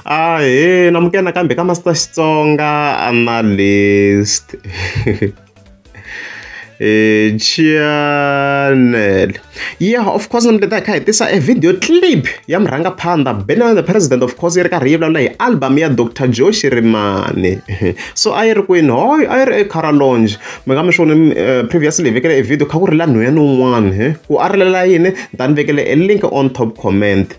Ahee namukela nakambe ka Master Xitsonga Analyst eh, channel yeah of course namuketa hi kha hi tisa a video clip ya murhangaphandha Benjamin the president of course yi ri karhi yi vulavula hi album ya Dr Joshi Rimani so a yi ri kwini hoyo a yi ri ecaralonge mi nga mi swi voni eh, previously hi vekele e video kha ku ri la nhweyani un'wana ku a rilela yini ni ta ni vekele e link on top comment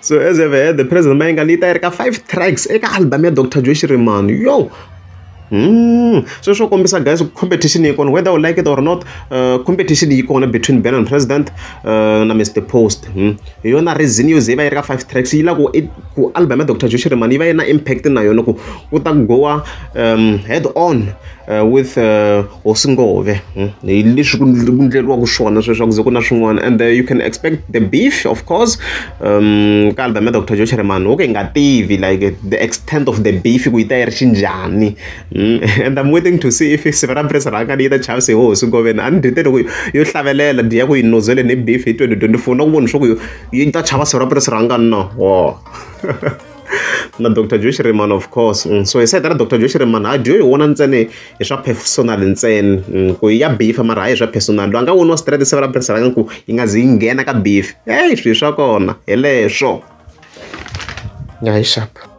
so as you have heard the president mayengani yi ta yi ri ka five tracks eka album ya dr joy xirimani yo Mm. so swo kombisa guys competition yi kona whether u like it or not uh, competition yi kona between ben and president uh, na mr post mm. hi yona reason yo ze yi va yi ri ka five tracks yi la ku i- ku album ya dr joy xirimani yi va yi na impact na yona ku ku ta goa um, head on uh, with uh, hosi ngove hmm? hi leswi ku ndleriwaka swona sweswaku ze ku na swin'wana and uh, you can expect the beef of course um ka album ya dr joe cheremani okay nga tivi like the extent of the beef ku yi ta yi ri xinjhani hmm? and i'm waiting to see if siva ra presa ra kani yi ta chavise ho hosi ngove a ni dyete loko yo hlavelela diya ku yi nozele ni beef hi 2024 na ku vona swa ku yi ta chava siva ra presa ra ngani na wo na dr joe cheremani of course hmm? so hi sayita ra dr joe cheremani a dyo hi wona ntsene hi swa personal ntsena mm, ku ya bifa mara hayi hi swa personal loyi a nga woniwa straight se vulaphorisa ra nga ku yi nga zi yi nghena ka bifi heyi swilo swa kona hi leswo ya hi xapa